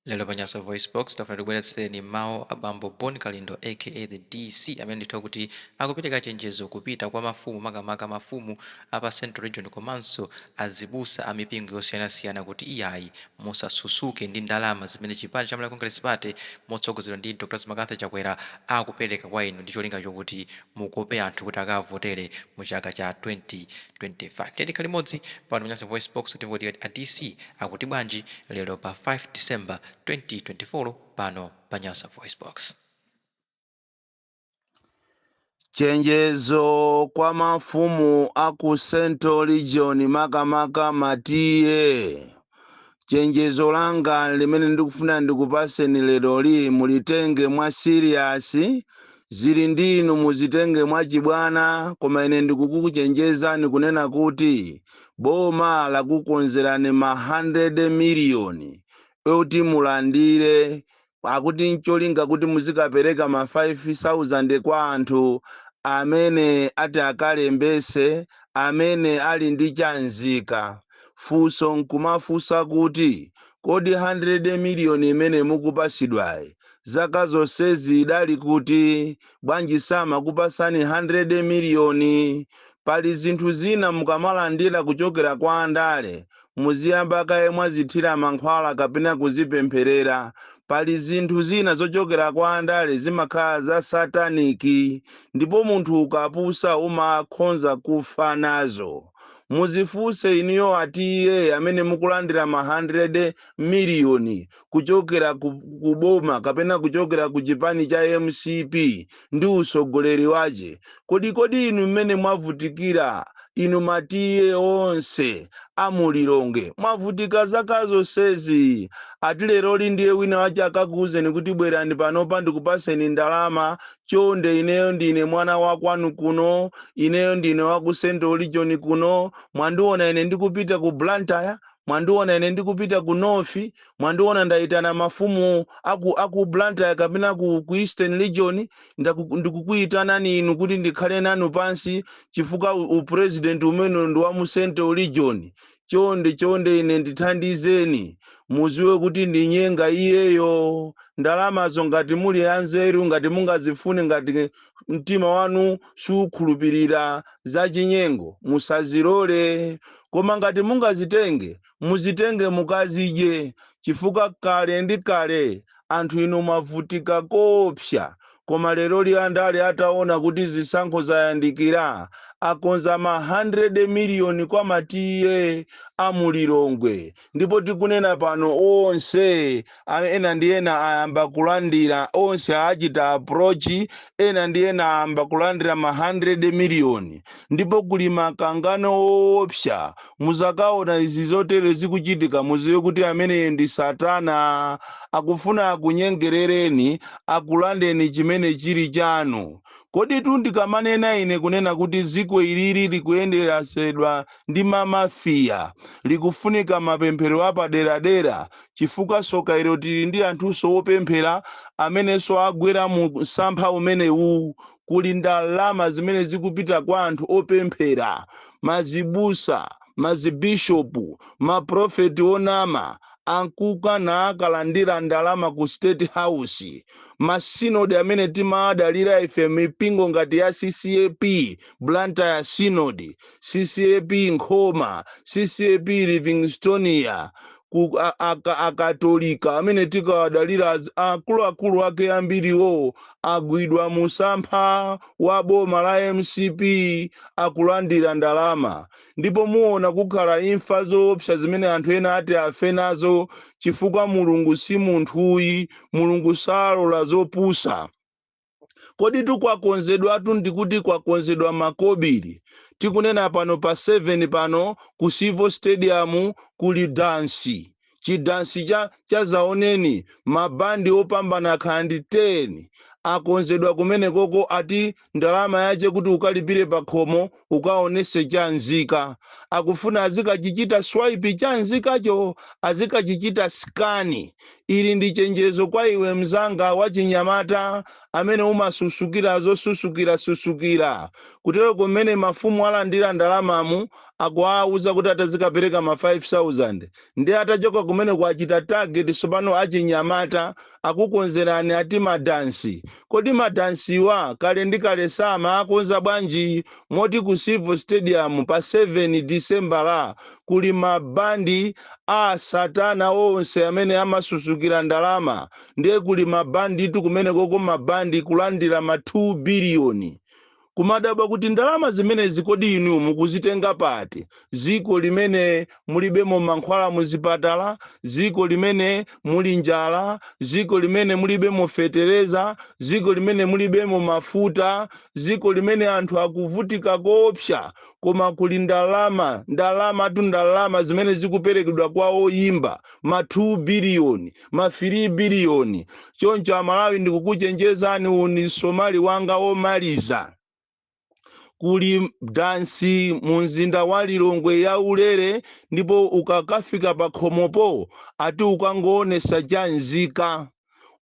Lero pa Nyasa VoiceBox, tafuna tikubweretsereni mawu a bambo Bon Kalindo aka the DC amene ndithu akuti akupereka chenjezo kupita kwa mafumu makamaka mafumu a pa Central Region komanso azibusa a mipingo yosiyanasiyana kuti iyayi musasusuke ndi ndalama zimene chipani cha Malawi Congress Party motsogozedwa ndi Dr Makatha Chakwera akupereka kwa inu ndi cholinga chokuti mukope anthu kuti akavotere mu chaka cha 2025. Ndiye tikhale limodzi pano pa Nyasa Voice Box kuti timve kuti a DC akuti bwanji lero pa 5 December 2024 pano pa Nyasa Voice Box. Chenjezo kwa mafumu a ku Central Region makamaka ma TA. Chenjezo langa limene ndikufuna ndikupaseni leroli mulitenge mwa siriyasi. Zili ndi inu muzitenge mwachibwana, koma ine ndikukuchenjezani kunena kuti boma lakukonzerani ma 100 miliyoni oti mulandire akuti n'cholinga kuti muzikapereka ma 5,000 kwa anthu amene ati akalembese amene ali ndi cha nzika. Funso n'kumafunsa kuti, kodi 100 miliyoni imene mukupasidwayi zaka zonsezi idali kuti? Bwanji samakupasani 100 miliyoni? Pali zinthu zina mukamalandira kuchokera kwa andale muziyamba kaye mwazithira mankhwala kapena kuzipempherera. Pali zinthu zina zochokera kwa andale zimakhala za satanic ndipo munthu ukapusa umakhonza kufa nazo. Muzifunse inuyo a TA amene mukulandira ma 100 miliyoni kuchokera ku, ku boma kapena kuchokera ku chipani cha mcp ndi usogoleri wache kodi kodi inu mmene mwavutikira inu ma TA onse a mu Lilongwe mwavutika zaka zonsezi ati leroli ndiye wina wache akakuuzeni kuti bwerani panopa ndikupaseni ndalama chonde ineyo ndine mwana wa kwanu kuno ineyo ndine wa ku central region kuno mwandiona ine ndikupita ku blantyre mwandiona ine ndikupita ku North, mwandiona ndaitana mafumu a ku, a ku Blantyre kapena ku, ku Eastern Region, ndaku, ndikukuitanani inu kuti ndikhale nanu pansi chifukwa u, u president umene ndi wa mu Central Region. Chonde chonde ine ndithandizeni, muziwe kuti ndi nyenga iyeyo. Ndalamazo ngati muli anzeru, ngati mungazifune, ngati mtima wanu sukhulupirira zachinyengo musazilole koma ngati mungazitenge muzitenge mukazidye chifukwa kale ndi kale anthu inu mwavutika koopsa koma leroli andale ataona kuti zisankho zayandikira akonza ma 100 miliyoni kwa ma TA a mu Lilongwe Ndipo tikunena pano, onse, a, ena ndi ena ayamba kulandira, onse achita approach, ena ndi ena ayamba kulandira ma handirede miliyoni. Ndipo kuli makangano owopsya. Muzakawona izi zotere zikuchitika, muziwe kuti ameneyo ndi Satana. Akufuna akunyengerereni, akulandeni chimene chiri chanu. Kodi tu ndikamanena ine kunena kuti dziko ili likuyendetsedwa ndi ma Mafia likufunika mapemphero apaderadera chifukwa tsoka ilo tili ndi anthunso wopemphera amenenso agwera mu msampha umenewu kuli ndalama zimene zikupita kwa anthu opemphera mazibusa mazibishopu maprofeti onama amkuka naakalandira ndalama ku state house masinodi amene timaadalira ife mipingo ngati ya ccap blantyre synod ccap nkhoma ccap livingstonia ku a- aka- akatolika amene timawadalira az- akuluakulu ake ambiriwo agwidwa mu msampha wa boma la mcp akulandira ndalama ndipo muona kukhale imfa zoopsa zimene anthu ena ati afe nazo chifukwa mulungu si munthuyi mulungu salola zopusa koditu kwakonzedwatu ndikuti kwakonzedwa makobiri tikunena pano pa 7 pano ku civo stadium kuli dansi chidansi cha zaoneni mabandi opambana akhala ndi 10 akonzedwa kumenekoko ati ndalama yache kuti ukalipire pakhomo ukaonese chamzika akufuna azikachichita swipe chamzikacho azikachichita sikani ili ndi chenjezo kwa iwe mzanga wachinyamata amene umasusukira zosusukira susukira kutero kumene mafumu alandira ndalamamu akuwauza kuti atazikapereka ma 5000 ndi atachoka kumene kuwachita target sopano achinyamata akukonzerani ati madansi? Kodi madansiwa kale ndi kale samaakonza bwanji? Moti ku Civo Stadium pa 7 Disembala kuli mabandi a satana onse amene amasusukira ndalama. Ndiye kuli mabanditu kumenekoko mabandi kulandira ma 2 biliyoni. kumadabwa kuti ndalama zimenezi kodi inu mukuzitenga pati dziko limene mulibemo mankhwala muzipatala dziko limene muli njala dziko limene mulibemo fetereza dziko limene mulibemo mafuta dziko limene anthu akuvutika koopsa koma kuli ndalama ndalamatu ndalama zimene zikuperekedwa kwa oyimba ma 2 biliyoni ma 3 biliyoni choncho amalawi ndikukuchenjezani uni somali wanga womaliza kuli dansi mu mzinda wa lilongwe ya ulere ndipo ukakafika pa khomopo ati ukangoonesa cha nzika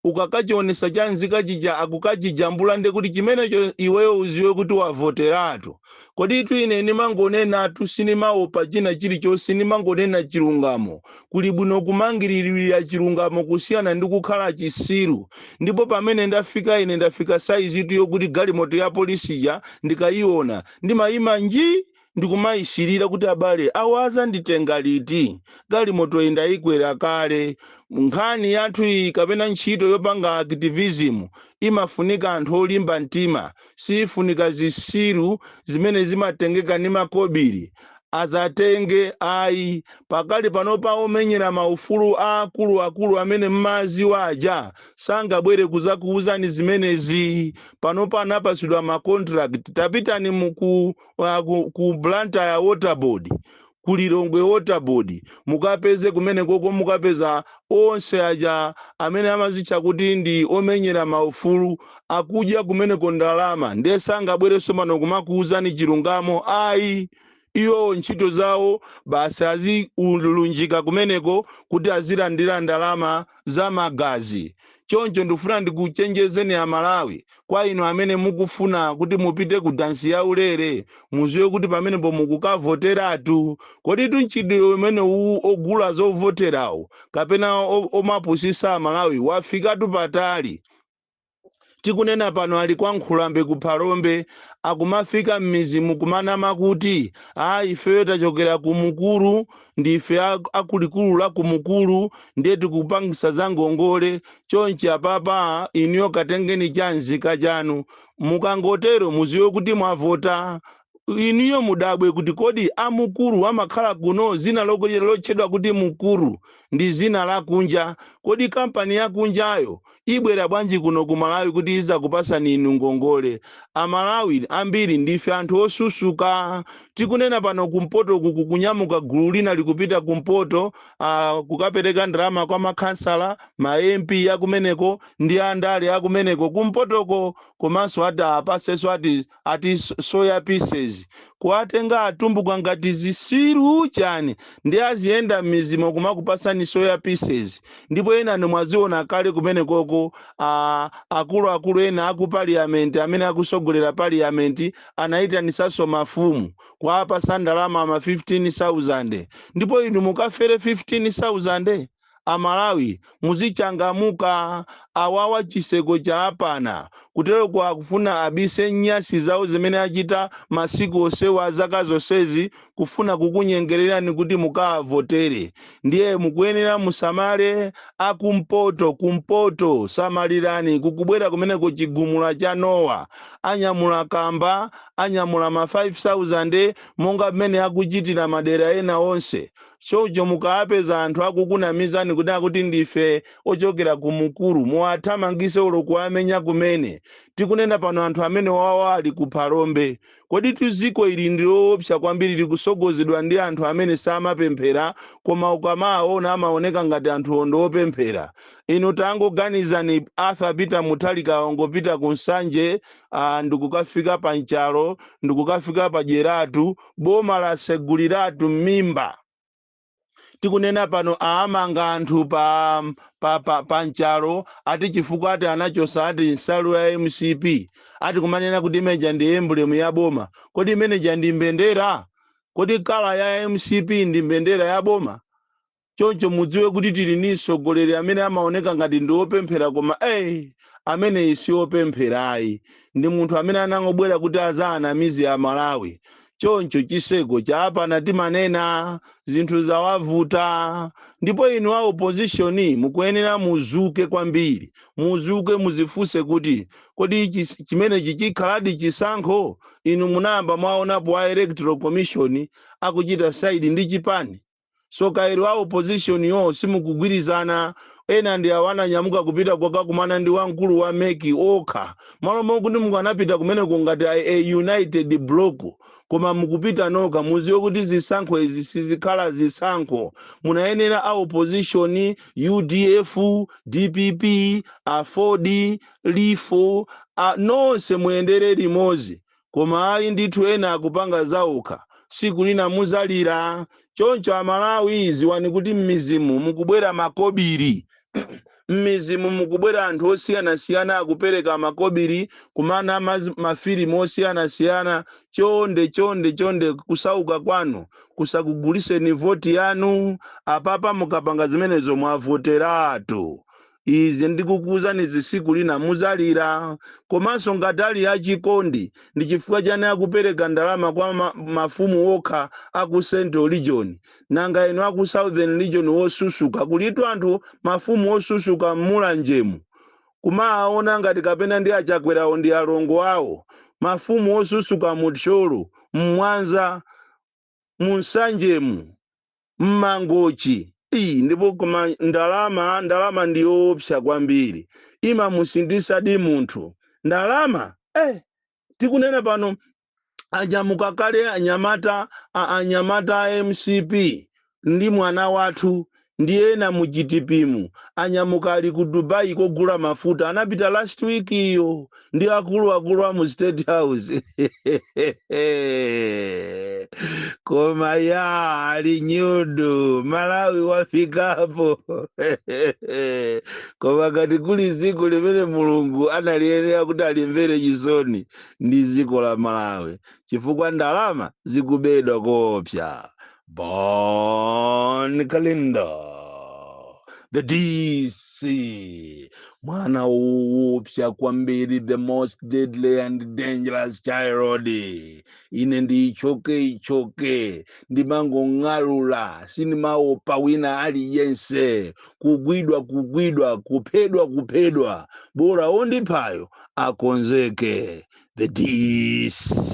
ukakachionesa cha nzika chija akukachijambula nde kuti chimenecho iweyo uziwe kuti wavoteratu kodi itu ine ndimangonenatu sindimaopa china chilichonse ndimangonena chilungamo kuli bwino kumangiririra chilungamo kusiyana ndi kukhala chisiru ndipo pamene ndafika ine ndafika saizitu yokuti galimoto ya polisi ija ndikayiona ndimayima nji ndikumayisirira kuti abale awa azanditenga liti galimoto iyi ndayikwera kale nkhani yathu iyi kapena ntchito yopanga activism imafunika anthu olimba mtima siifunika zisiru zimene zimatengeka ndi makobili azatenge ayi pakali panopa omenyera maufulu aakulu akulu amene mmawaziwa aja sangabwere kuzakuuzani zimenezi panopa anapasidwa ma contract tapitani ku uh, ku, ku Blantyre water board ku Lilongwe Water Board mukapeze kumenekoko mukapeza onse aja amene amazitcha kuti ndi omenyera maufulu akudya kumeneko ndalama ndiye sangabwere somano kumakuwuzani chilungamo ayi iwowo ntchito zawo basi azilunjika kumeneko kuti azilandira ndalama za magazi. Choncho ndikufuna ndikuchenjezeni a Malawi, kwa inu amene mukufuna kuti mupite ku dansi ya ulere, muziwe kuti pamenepo mukukavoteratu. Koditu mchitidwe umene uwu ogula zovoterawo kapena o- omapusisa a Malawi wafikatu patali. Tikunena pano ali kwa Nkhulambe ku Phalombe akumafika m'midzimu kumanama kuti aa ifeyo tachokera ku Mukuru ndife a, a kulikulu la ku Mukuru ndiye tikupangisa za ngongole chonchi apapa inuyo katengeni cha nzika chanu mukangotero muziwe kuti mwavota inuyo mudabwe kuti kodi a Mukuru amakhala kuno dzina loko- lotchedwa kuti Mukuru ndi dzina lakunja kodi kampani yakunjayo ibwera bwanji kuno ku malawi kuti izakupasani inu ngongole amalawi ambiri ndife anthu osusuka tikunena pano kumpoto uku kukunyamuka gulu lina likupita kumpoto uh, kukapereka ndalama kwa makhansala ma mp akumeneko ndi andale akumeneko kumpotoko komanso ati apaseso ati ati so- soya pieces kuwatenga atumbuka ngati zisiru chani nde aziyenda m'mizimo kumakupasani soya pieces ndipo enanu mwaziona kale kumenekoko a- akuluakulu ena aku parliament amene akusogolera parliament anayitanisanso mafumu kuwapasa ndalama ma 15000 ndipo inu mukafere 15000 amalawi muzichangamuka awawa chiseko chaapana kuteroku akufuna abise nyasi zawo zimene achita masiku onsewa zaka zonsezi kufuna kukunyengererani kuti mukaavotere ndiye mukuyenera musamale akumpoto kumpoto samalirani kukubwera kumeneko chigumula cha nowa anyamula kamba anyamula ma 5000 monga mmene akuchitira madera ena onse Choncho mukawapeza anthu akukunamizani kunena kuti ndife ochokera ku Mkuru, muwathamangise olo kuwamenya kumene. Tikunena pano anthu amenewawa ali ku Phalombe. Koditu dziko ili ndi loopsa kwambiri likusogozedwa ndi anthu amene samapemphera koma ukamawaona amaoneka ngati anthuwo ndi opemphera. Inu tangoganizani Arthur Peter Mutharika wangopita ku Nsanje, aah, ndikukafika pa Nchalo, ndikukafika pa Dyeratu, boma laseguliratu mmimba tikunena pano aamanga anthu pa Nchalo ati chifukwa ati anachosa ati nsalu ya mcp ati kumanena kuti imeneija ndi emblem ya boma kodi imeneija ndi mbendera kodi kala ya mcp ndi mbendera ya boma choncho mudziwe kuti tili ndi mtsogoleri amene amaoneka ngati ndi wopemphera koma eh ameneyi si wopempherayi ndi munthu amene anangobwera kuti azaanamize amalawi choncho chiseko chaapana timanena zinthu zawavuta ndipo inu a opposition mukuyenera muzuke kwambiri muzuke muzifunse kuti kodi chis- chimenechi chikhaladi chisankho inu munayamba mwaonapo a electoral commission akuchita saidi ndi chipani so kaya a opposition-yo simukugwirizana ena ndi awo ananyamuka kupita kukakumana ndi wamkulu wa MEC okha malo mokuti mukanapita kumeneko ngati a, a united block koma mukupita nokha muziwe kuti zisankho izi sizikhala zisankho munayenera a opposition udf dpp aford lifo a, nonse muyendere limodzi koma ayi ndithu ena akupanga zaokha siku lina muzalira choncho amalawi ziwani kuti mmizimu mukubwera makobiri mmizimu mukubwera anthu osiyanasiyana akupereka makobiri kuma- ma- mafilimu osiyanasiyana chonde chonde chonde kusauka kwanu kusakuguliseni voti yanu apapa mukapanga zimenezo mwavoteratu izi ndikukuuzanizi siku lina muzalira komanso ngati ali achikondi ndi chifukwa chani akupereka ndalama kwa ma, mafumu okha aku central region nanga inu aku southern region wosusuka kulitu anthu mafumu wosusuka mmulanjemu kumaaona ngati kapena ndi achakwerawo ndi alongo awo mafumu wosusuka mu Thyolo mmwanza mu nsanjemu mmangochi iyi ndipo koma ndalama ndalama ndi yoopsa kwambiri imamusinthadi munthu ndalama eh, tikunena pano anyamuka kale anyamata a- anyamata a mcp ndi mwana wathu ndi ena mu DPPmu anyamuka ali ku Dubai kogula mafuta anapita last week iyo ndi akuluakulu a mu State House koma ya ali nyudu Malawi wafikapo koma ngati kuli dziko limene Mulungu analiyenera kuti alimvere chisoni ndi dziko la Malawi chifukwa ndalama zikubedwa koopsa Bon Kalindo, the DC, mwana woopsa kwambiri, the most deadly and dangerous child. Ine ndiichoke ichoke, ndimangong'alula, sindimaopa wina aliyense, kugwidwa kugwidwa, kuphedwa kuphedwa, bora ondiphayo akonzeke, the DC.